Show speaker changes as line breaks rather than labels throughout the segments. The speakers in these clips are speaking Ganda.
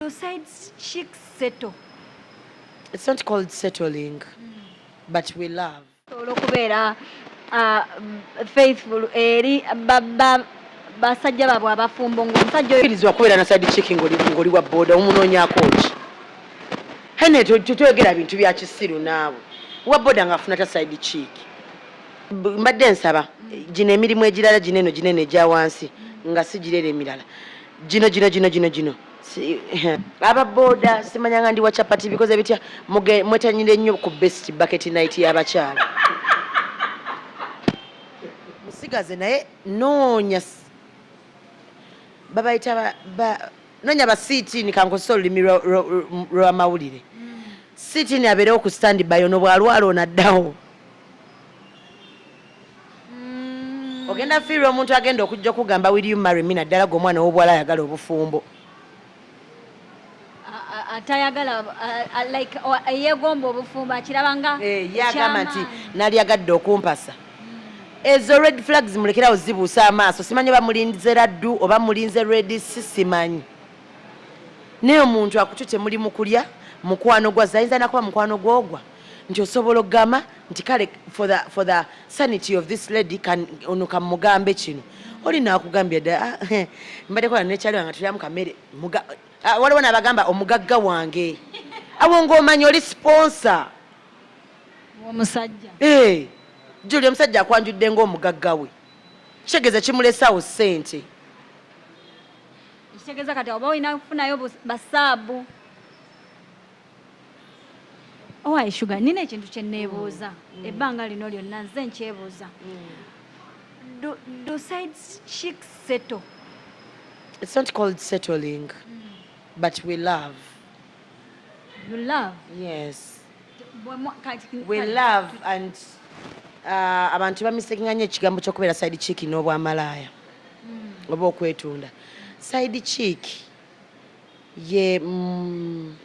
Your side chick settle.
It's not called settling, mm. but we love. Olwokubeera
uh, faithful eri basajja babwe abafumbo ng'omusajja oyirizibwa kubeera na side chick
ng'oli wa boda omunoonyako ki hene toyogera bintu bya kisiru naawe wa boda ng'afuna ta side chick mbadde nsaba gino emirimu egirala gino eno gino eno egya wansi nga sigirera emirala gino gino gino gino gino aba boda simanyanga ndi wa chapati bikoze bitya mwetanyire nnyo ku best bucket night y'abakyala musigaze naye noonya babayita noonya ba siitini kankozesa olulimi lwamawulire siitini abeerewo ku standby ono bwalwala onaddawo mm. ogenda fiirwa omuntu agenda okujja okugamba will you marry me naddala gwe omwana owobwala ayagala obufumbo
atayagala like eyegomba obufumbo akiraba nga eh, yagamba nti
nali agadde okumpasa ezo red flags mulekerawo zibuusa amaaso simanyi oba mulinze laddu oba mulinze red sisimanyi naye omuntu akutute muli mukulya mukwano gwa zayinza nakuba mukwano gwogwa nti osobola okugamba nti kale for the, for the sanity of this lady ono kamugambe kino oli nakugambye dda ah, mbadde kola nekyali wange tulyamu kamere ah, waliwo nabagamba omugagga wange awo ngaomanya oli sponsa
omusajja eh,
juli omusajja akwanjudde ngaomugagga we kitegeeza kimulesawo sente
kitegeeza kati oba olina kufunayo basaabu owaye shuga nina ekintu kyenneebuuza mm. ebbanga lino lyonna nze nkyebuuza do sides chick settle
it's not called settling mm. but we love
you love yes
we love and uh, abantu bamisekinga nyo ekigambo kyokubeera side chick n'obwamalaaya mm. oba okwetunda side chick ye mm,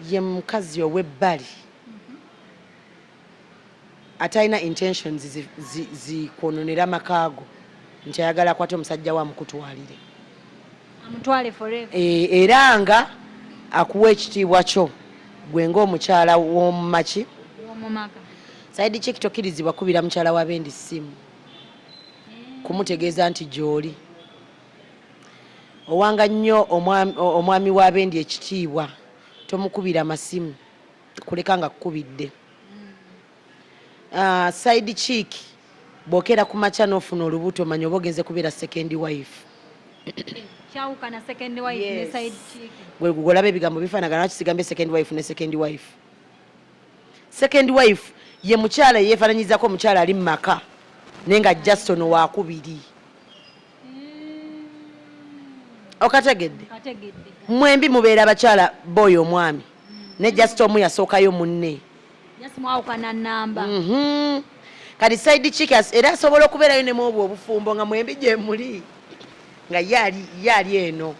ye mukazi owebbali atalina intentions zikwononera amakaago nti ayagala akwate omusajja we amukutwalire
eh, era nga
akuwa ekitiibwa kyo gwe ngaomukyala womumaki
saidi kiki
tokirizibwa kubira mukyala wa bendi simu eh. kumutegeeza nti gyoli Owanga nnyo omwami wa bendi ekitiibwa, tomukubira masimu kuleka nga kukubidde. Uh, side chick bwokera ku makya n'ofuna olubuto manya oba ogenze kubeera second wife
kyawukana second wife yes. ne side chick gwe gugolaba ebigambo
bifanagana lwaki sigambye second wife ne second wife second wife ye mukyala yeefananyizako omukyala ali mu maka naye nga just ono wakubiri okategedde mwembi mubeera abakyala boy omwami ne just omu yasookayo munne
mhm.
kati side chik era asobola okubeerayo nemu obwo obufumbo nga mwembi gyemuli nga ye ali eno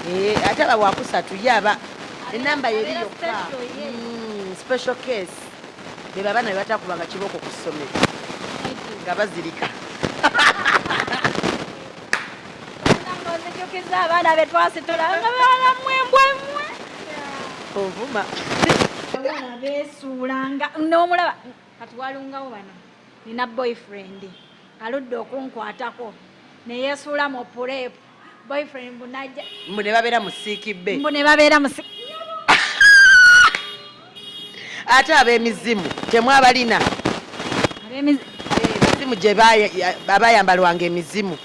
Eh, ate aba wakusatu ye aba enamba yeri yokka mm, special case beba abaana bebatakubanga kibooko ku ssomero nga bazirika
nzijukiza abaana betwasitula nga balamu embwemwe
ovuma
besuula nga nomulaba Kati walungawo bano nina boyfriend aludde okunkwatako neyesuula mu purepu boyfriend mbu najja mbu ne babeera mu
siiki bbe mbu ne babeera mu
siiki
ate ab'emizimu temwabalina emizimu gye abayambalwanga emizimu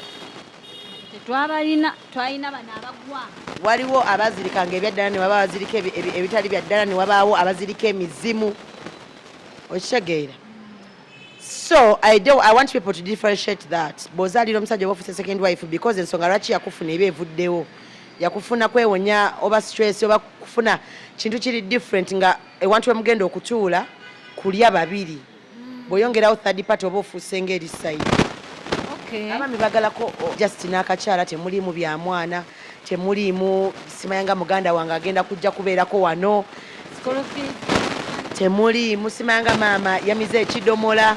tetwabalina twalina bano abagwa waliwo
abazirikanga ebyaddala ne waba bazirika ebitali byaddala ne wabaawo abazirika emizimu okitegeera so I, do, I want people to differentiate that bwozaalira omusajja obafuuse second wife because ensonga lwaki yakufuna eba evuddewo yakufuna kwewonya oba stress oba kufuna kintu kiri different nga ewantu wemugenda okutuula kulya babiri bweyongerawo third party oba ofuuse ngaeri side okay. abaami bagalako oh, just n'akakyala temulimu bya mwana Temuliimu simanya nga muganda wange agenda kujja kubeerako wano. Temuliimu simanya nga maama yamize ekidomola.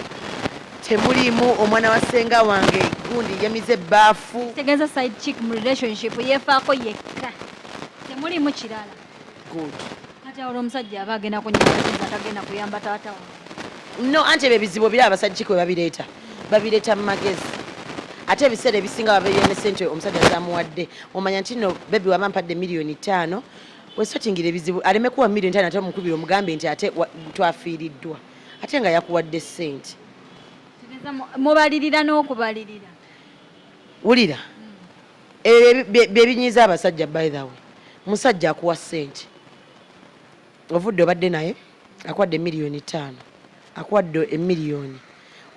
Temuliimu omwana wa ssenga wange gundi
yamize
ebbaafu.
Kitegeeza side
chick
mu relationship yeefaako yekka. Temuliimu kirala. good
kati awo
omusajja aba agenda kunyamba tagenda kuyamba taata no anti
ebyo ebizibu ebiri abasajja kwe babireeta babireeta mu magezi ate ebiseera ebisinga babeera ne sente omusajja zamuwadde omanya nti no bebi waba mpadde miliyoni ttaano wesotingira ebizibu aleme kuwa miliyoni ttaano ate omukubira omugambe nti ate twafiiriddwa ate nga yakuwadde sente mubalirira
n'okubalirira
wulira Ebyo bye binyiiza abasajja by the way. Musajja akuwa ssente. Ovudde obadde naye akuwadde miliyoni ttaano akuwadde emiliyoni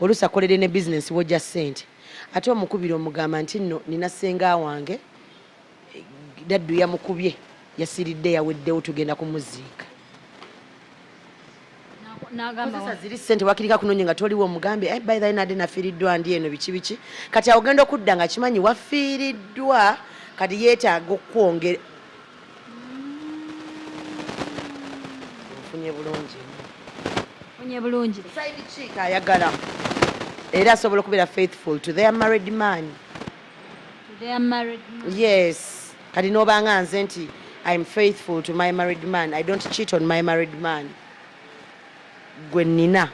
oluusi akoledde ne bizinensi wojja ssente ate omukubira omugamba nti nno nina ssenga wange daddu yamukubye yasiridde yaweddewo tugenda kumuziika nagamba ziri sente wakirika kunonye nga toliwo mugambe eh, by the nade nafiiriddwa ndi eno biki biki kati awogenda okudda nga kimanyi wafiiriddwa kati yeetaaga okukwongera ofunye bulungi ofunye bulungi side chick ayagala era asobola okubeera faithful to their married man to their married man yes kati nobanga nze nti im faithful to my married man i don't cheat on my married man gwe nina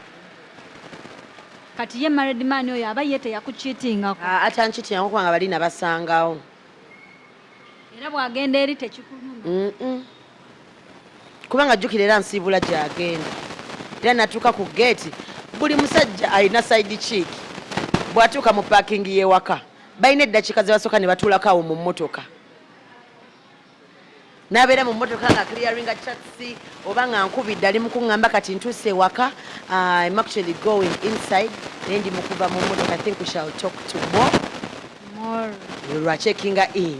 kati
ye married man oyo aba ye teyakuchitingako ah, atanchitingako kubanga
bali nabasangawo
era bwagenda eri tekikuluma
kubanga jjukira era nsiibula gyagenda era natuuka ku geeti buli musajja alina saidi kiiki bwatuuka mu pakingi yewaka balina eddakiika ze basooka ne batuulako awo mu mmotoka nabeera mu mmotoka nga clearinga chatsi oba nga nkubidde ali mukuŋŋamba kati ntuuse ewaka uh, im actually going inside naye ndi mukuva mu mmotoka i think we shall talk to more lwachekinga in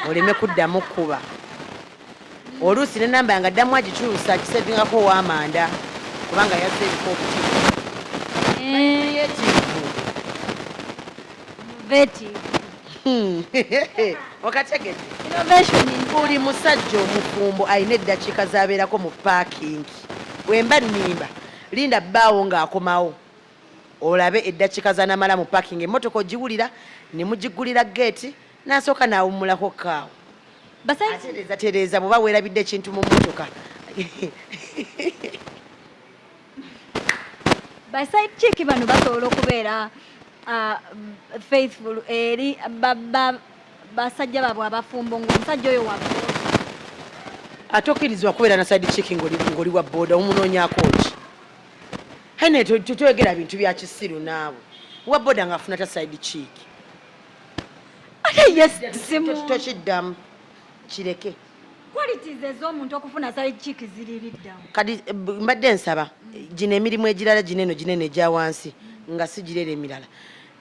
oleme kuddamu kukuba oluusi ne namba yanga ddamu agikyusa kisevingako owamanda kubanga yazze ebika obutivu Hmm. okategedde buli musajja omufumbo alina eddakiika zabeerako mu paakingi wemba nimba linda bbaawo ng'akomawo olabe eddakiika zanamala mu paakingi emmotoka ogiwulira ne mugigulira geeti nasooka nawummulako kaawo atereeza tereeza bwoba weerabidde ekintu mu mmotoka
baside chick bano basobola okubeera uh, faithful eri basajja babwe abafumbo ngaomusajja oyo wabo
ate okkirizibwa kubeera na side chick ngoli wa boda omunoonyako ki hene toyogera bintu bya kisiru naawe wa boda ngaafuna ta side chick ate
yesitokiddamu
kireke kati
eh, mbadde
nsaba gino emirimu egirala gino eno gino eno egya wansi nga sigirera emirala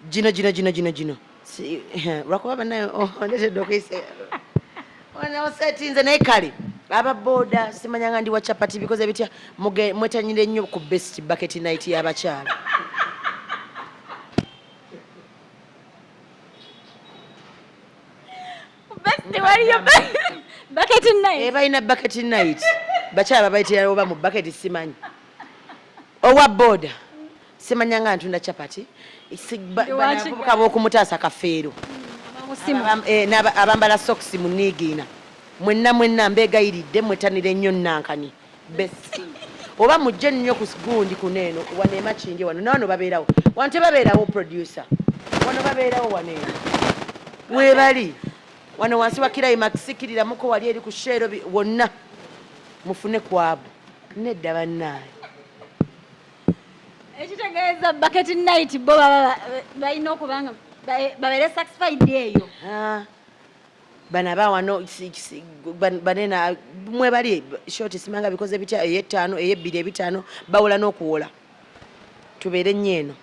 gino gino gino gino gino eh, lwakuba banaye ondetedde oh, okuyisa osetinze naye kale aba boda simanya nga ndi wa chapati bikoze bitya mwetanyire nnyo ku best bucket night y'abakyala balina eh, bucket night bakyala babayitirawo oba mu bucket simanyi owa boda simanyanga ntunda chapati bavubuka bokumutaasa kafeero eh, abambala sokisi muniigiina mwenna mwenna mbeegayiridde mwetanire nnyo nankani bestie oba mujje nnyo ku gundi kuno eno wano emakinge wano nawano babeerawo wano tebabeerawo producer wano babeerawo wano eno webali wano wansi wa kirayi makisikiriramuko wali eri ku sheero wonna mufune kwabu nedda bannaayo
ekitegeeza bucket night bo baba balina okuba nga babeere satisfied eyo
bano abawano banena mwebali short simanga bikoze bitya eyettaano eyebbiri ebitaano bawola n'okuwola tubeere nnyo eno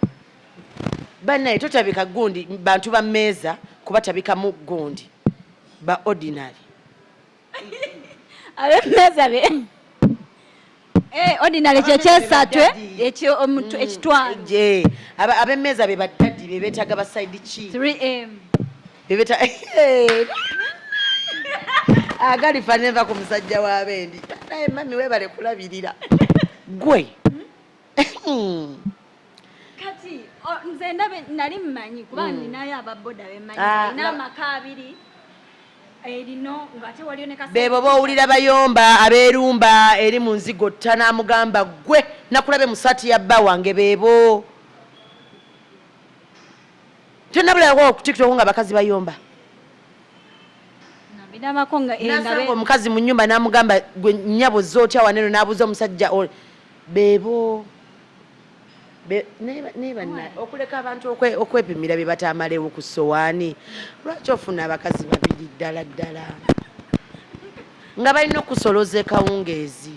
banaye totabika gundi bantu ba meeza kuba tabikamu gundi ba ordinary
abemeeza be Eh, ordinary kye kyesatwe ekyo omuntu mm, ekitwalo. Je, aba
abemeza be badadi be betaga ba side chi. 3M.
Be beta
eh. Agali ah, faneva ku musajja wa bendi. Naye mami webale kulabirira. Gwe. Hmm?
kati nze ndabe nali mmanyi kuba mm. ninayo ababoda bemanyi ah, n'amaka abiri bebo bowulira bayomba
aberumba eri mu nzigo tta namugamba gwe nakulabe musati ya bba wange bebo tenabulawo ku tiktok nga bakazi bayomba
eh, omukazi mu
nyumba namugamba gwe nyabo zotya waneno nabuuza omusajja bebo okuleka abantu okwepimira bye batamalewo ku sowaani lwaki ofuna abakazi babiri ddala ddala nga balina okusoloza ekawungeezi